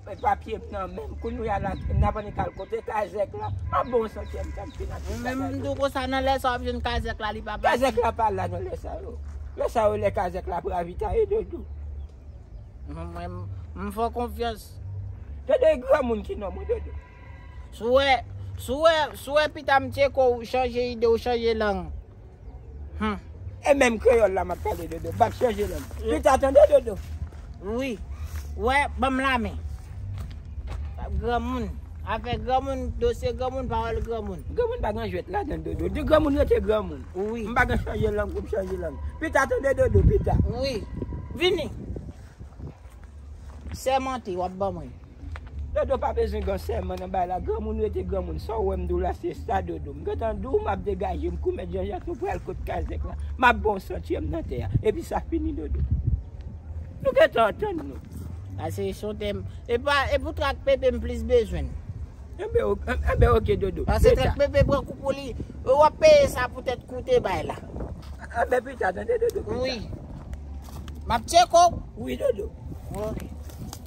Fè papye m nan menm kounya la nap annik al kote kazèk la ah bon se antyèm tan m fin annik kazèk la. Mwen menm tou konsa nan lè sa wap jwenn kazèk la li pa pati. Kazèk la pa la nan lè sa yo. Lè sa yo lè kazèk la ap ravitaye Dodou. Mwen menm m fè w konfyans. Dodou e granmoun ki non mwen Dodou. Si w wè si w wè si w wè pita m tcheko ou chanje ide ou chanje lang. Hum. E menm kreyòl la map pale dodo. Bak chanje lang. Pita tande dodo. Wi. Wè, banm la men. Granmoun. Afè granmoun, dosye granmoun, pawòl granmoun. Granmoun pa gen jwèt ladan dodo. Di granmoun rete granmoun. Wi. M pa gen chanje lang pou m chanje lang. Pita tande dodo, pita. Wi. Vini. Sèmante wap ban mwen. Dodo pa bezwen gan sèman nan bay la granmoun rete granmoun sa ou wèm diw la se sa dodo m gentan diw map degajem kou mèt janjak nou pral kot kazèk la map baw santyèm nan tè a epi sa fini dodo nou gentan antann nou. Pase son tè m epa epou trak pepe m plis bezwen l. Enben ok enben ok dodo. Pase trak pepe pran kou pou li wap peye sa pou tèt kou te bay la. Enben pita tande dodo pita. Wi map tcheko w. Wi dodo. Ok.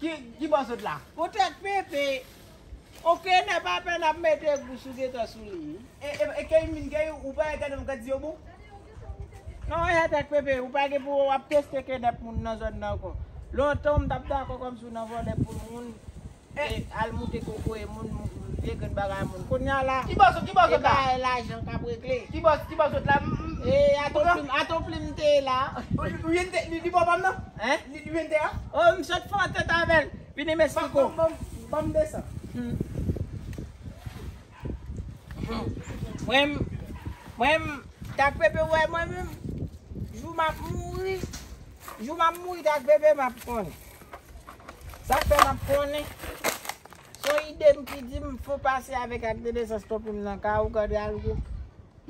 Ki bò sot la? Pou tèt Pepe. Ok nè pa pè nap mete gou sou Gaetan sou li. E key min key ou pa wè gadon gad zyew bon. Nan wè tèt Pepe ou pa gen pou wap teste knèp moun nan zòn nan ankò. Lontan ou mtap dakò kòmsi ou nan vòlè poul moun e al moute kokoye moun vye grenn bagay moun. Kounya la e bagay lajan kap regle. Ki bò sot la? E aton plim te la? Li pa w pam nan? Hein? Li li vende a? Oh misye t fò tèt avèl. Vini Mexico. Banm banm 200. Hum. Hum. Mwen mwen tak pepe wè mwen menm. Jou map mouri. Jou map mouri tak pepe map konnen. Sak fè map konnen. Son idem ki dim fò pase avèk ak 200 stopim nan ka ou gade algo.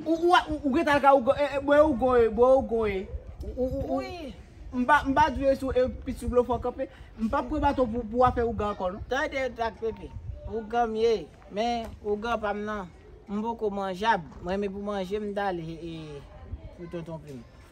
Ou gentan al ka ougo ee bwe ougo ee bwe ougo ee ou m pa di yo e pis sou blofò kanpe m pap pran baton pou afè ougan ankò non. Tande trak pepe, ougan m ye men ougan pa m nan m poko manjab m renmen pou manje m dal ee pou tonton pim.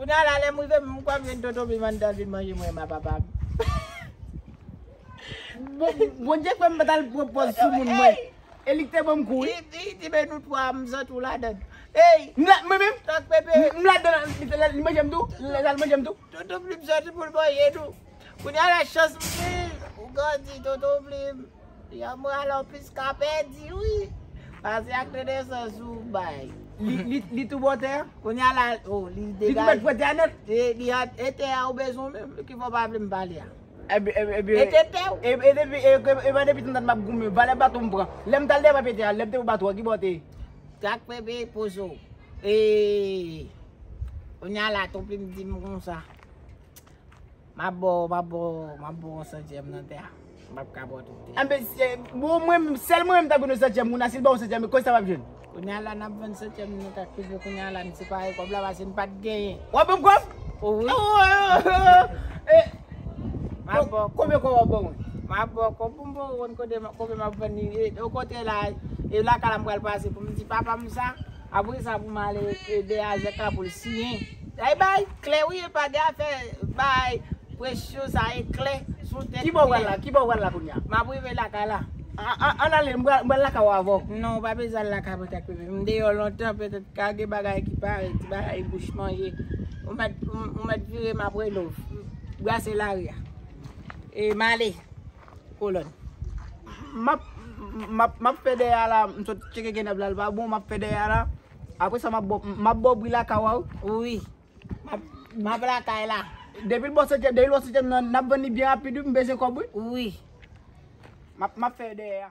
Kounya la lèm rive menm kwèm gen tonton vim anndan vin manje mwen ma papam. Bondye fèm pat al pran pòz sou moun mwen e li k te banm kou wi. Hi ti men nou 3 m santi w ladann. Eyy mwen menm tank pepe. M ladann li manje m tou lal manje m tou. Tonton plim soti poul manje nou. Kounya la chans m genyn ou grandi tonton plim. Yon moral an plis ka pèdi wi. Pase ak renesans ou bay. Li tou bò tè a? Kounya la oh li degaje. Li tou mèt pwè tè a nèt? E tè a ou bezwen menm? Ki fè w pa vle m pale a? E te tè ou? E depi e pa depi tantan m ap goumen. Valè baton m pran. Lè m t al devan pye tè a, lè m te pou baton an ki bò te ye? Sak fè peye poze w? E kounya la ton plim di m konsa. Map bo w, map bo w, map bo w yon santyèm nan tè a. Mpap ka bo w tout tè a. Anben, bro mwen menm, sèl mwen menm ta konn yon santyèm moun la, si l ba w yon santyèm, kòb sa wap jwenn? Kounye a la nap vann santyèm nan kak pizza kounye a la n separe kòb la pase n pat genyen. Wap ban m kòb? Ou wi. Oohoo! Map bo w kòb. Konbyen kòb wap ban mwen? Map bo w kòb pou m bo w konn kote, konbyen map vann li. Okontrè la, e lakay la m pral pase pou m di papa m sa. Apre sa pou m ale ede Azèk la pou l siyen. Day bay, klè wi epa gen afè bay presyon sa e klè sou tèt. Kibò ou pral la, kibò ou pral la kounya? M ap rive lakay la. Ann ale, m pral lakay ou avè w. Non ou pa bezwen al lakay mwen tank pipi. M deyò lontan petèt ka gen bagay ki pare, ti bagay bouch manje. Ou mèt, ou mèt vire m ap rele w. Brase lari a. E m ale. Kolòn. Map map map fè dèyè a la m sot tcheke genèb la l pa bon map fè dèyè a la aprè sa map map ba w bri lakay w a wi map map lakay la depi l bò setyèm depi l bò setyèm nan nap vann li byen rapid wi m bezwen kòb wi wi map map fè dèyè a.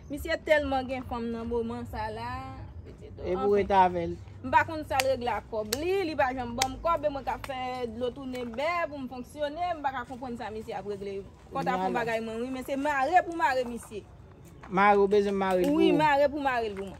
Misye telman gen fanm nan moman sa la. E pou ret avel. M pa konn sal regle ak kob li, li pa janm banm kob e mwen kap fè dlo toune bè pou m fonksyone, m pa ka konprann sa misye ap regle. Kot ap fon bagay mwen wi men se mare pou mare misye. Mare ou bezwen m mare l pou ou? Wi mare pou mare l pou mwen.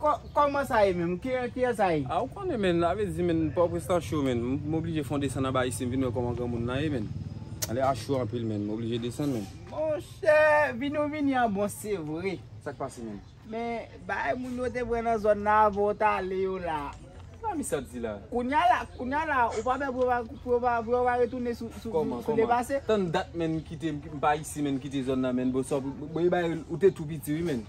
Koman sa ye menm? Kiyè sa ye? Ah ou konnen menn sa vle di menn pò prens lan cho menn m oblije fon desann anba isi m vin wè koman granmoun nan ye menn ale a cho anpil menn m oblije desann menn. Monchè vini ou vini an bon se vre. Sak pase menn? Men bagay moun yo te pran nan zòn nan avan ou t ale yo la. Sa mi sat di la? Kounya la kounya la ou pa pè pou yo pa pou yo pa retounen sou sou le pase? Tann dat menn m kite m pa isi menn m kite zòn nan menn bon sa ou te tou piti wi menn.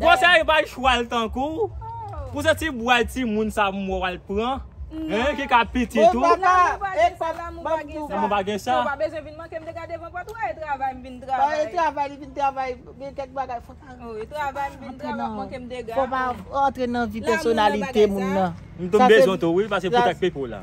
Konsèy epa chwal tankouw Pou se ti bway ti moun sa m wè wal pran Hein ki ka pitit ou Lanmou pa gen sa Bae travay li vin travay Gen kèk bagay fok Antre nan vi pèsonalite moun nan M tou bezwen tou wi pase pou kèk pipo la.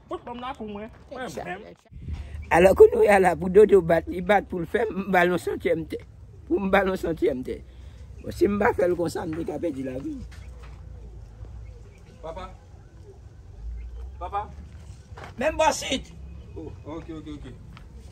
Pot banm la pou mwen, mwen menm. Alò kounouya la pou dodo bat li bat poul fèm m bal yon santyèm tè pou m bal yon santyèm tè bon si m pa fèl konsa m te ka pèdi lavi m. Papa papa. Menm bò sit. Oh ok ok ok.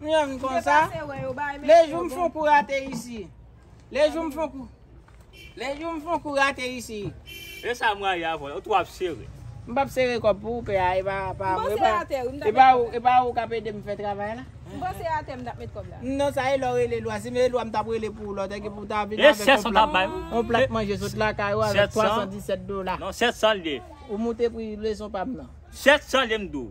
Nou janm vin konsa. Le jou m fon kou rate isi. Le jou m fon kou. Le jou m fon kou rate isi. E sa mwa ya vole. Ou tou ap sere. M pap sere kob pou ou pè a. E pa pa mwen. E pa ou. E pa ou kap ede m fè travay la. M panse a te m tap met kob la. Non sa e lò rele lwa. Si m e lwa m tap rele pou ou lò. Tèk e pou ta vin avèk yon plat. Yon plat manje sot la ka yo avèk 317 dola. Non 700 l ye. Ou moute pri leson pa m nan. 700 l ye m di w.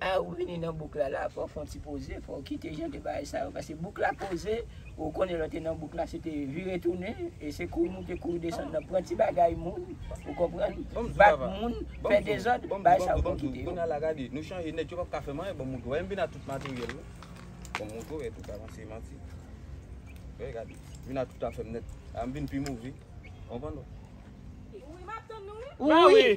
A ou vini nan bouk la la fò fon ti poze fò kite jan de bagay sa yo pase bouk la poze ou konnen lè w te nan bouk la se te vire tounen e se kouri moute kouri desann nan pran ti bagay moun ou konprann bat moun fè dezòd bagay sa yo fò kite yo. Wi map tann nou wi.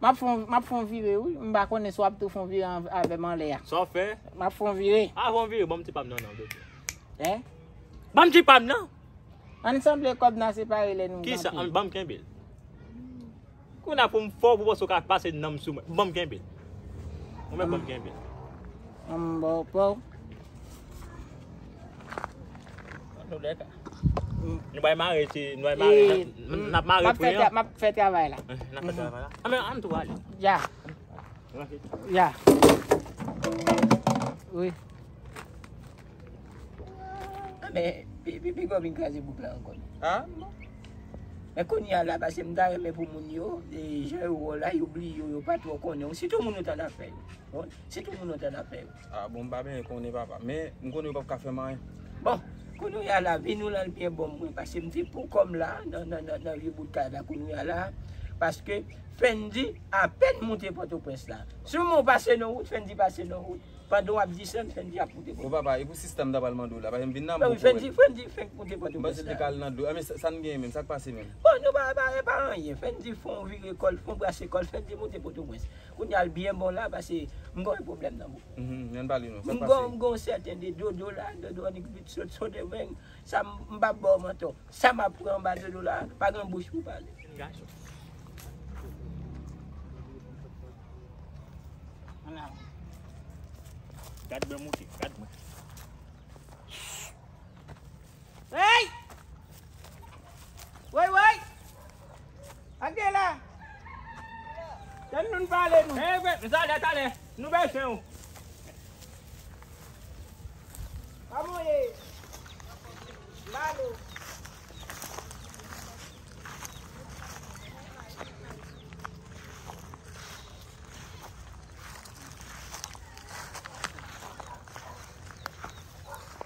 Map fon map fon vire wi m pa konnen si wap tou fon vire an avèm anlè a. Sa w fè? Map fon vire. A fon vire banm ti pam nan non blòf yo. He? Banm ti pam nan. Ann sanble kòb nan separe lè nou. Kisa an banm kenbel. Kounye a pou m fò pou panse w ka pase nanm sou mwen. Banm kenbel. Ou menm banm kenbel. Anm baw paw. An nou lè ka. Nou bay mare ti, nou bay mare. E, Nap mare map fè, pre an. map fè travay la. Eh, Nap fè travay la. Ame, an tou ale. Ya, Ranse. ya. Wi. Ah, men, pi, pi, pi gò vin kraze bouk la ankò. Ha? Men kounye a la, pase m ta renmen pou moun yo, e, jan yo wè w la, yo bliye w, yo pa twò konnen w. Sitou moun yo t an afè yo. Bon, sitou moun yo t an afè yo. Ah bon m pa byen konnen papa men m konnen yo pap ka fèm anyen. Bon kounouya la vi nou la l byen bon mwen pase m fin pou kòm la nan vye bout kay la kounouya la paske Fendy apèn moute pòtoprens la si w men w pase nan wout Fendy pase nan wout pandan w ap desann Fendy ap moute pòtoprens la. Bon papa e pou sista m ta pral mande w la paske m vin nan bouke wè l. Fendy fenk moute pòtoprens la. M panse l te ka al nan dlo men sa n genyen menm sa k pase menm. Bon nou pa e pa anyen Fendy fon vire kò l fon brase kò l Fendy moute pòtoprens. Kounye a l byen bon la pase m gon yon pwoblèm nan bouch mwen. M gon sèten de dodo la, dodo an nik vit sot sot e veng. Sa m m pap ba w mantò. Sa m ap pran anba dodo la pa gen bouch pou pale. Ake la! Tann nou n pale nou. Hey we, m talè talè. Nou bezwen ou. Kòman w ye? M ba nou.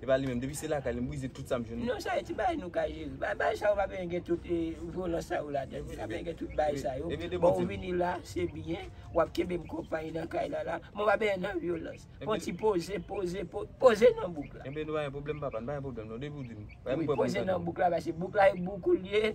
epa li menm depi se lakay li m brize tout sam jwenn. Non sa yo ti bagay nou ka jere. Bagay sa yo pa bezwen gen tout vyolans sa yo ladann. Li pa bezwen gen tout bagay sa yo. Bon ou vini la, se byen, wap kenbe m konpay nan kay la la, men w pa bezwen nan vyolans. Fon ti poze, poze, poze, poze nan bouk la. Enben nou pa gen pwoblèm papa, nou pa gen pwoblèm non depi w di m. Wi poze nan bouk la pase bouk la e bouk ou l ye.